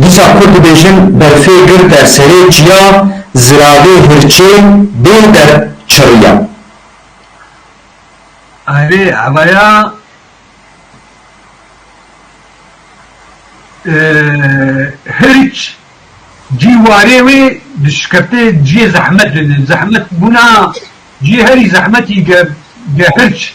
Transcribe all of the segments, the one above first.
Dîsa ku dibêjin berfê girte serê çiya ziravê hirçê bê der çirriya. Erê evaya hirç cî warê wê dişikefte ciyê zehmet zehmet bûna ciyê herî zehmetî ge hirç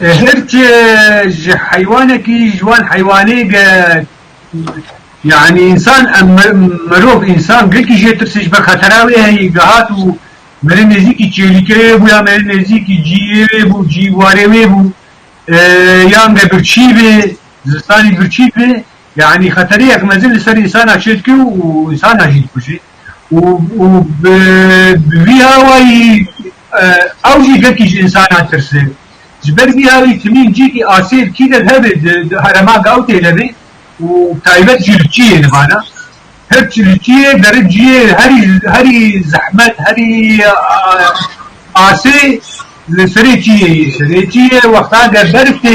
Hirç ji heywanekî ji wan heywanê ge yanî însan em mirov însan girkî jê tirse ji ber xetera wê heyî dihat û merê nêzîkî çêlîkê wê bû ya merê nêzîkî cîyê wê bû cî warê wê bû yan ge birçî bê zistanî birçî bê Yanî xeteriyek mezin li ser însana çê dike û însana jî dikuje û bi vî awayî ew jî gelkî ji însanan tirse. Ji ber vî awî timîn cîkî asêr kî der hebe di herema Gawtê de be û bi taybet jî li çiyê de vana. Hirç li çiyê derin ciyê herî herî zehmet herî asê li serê çiyê ye. Serê çiyê wextan ger berf tê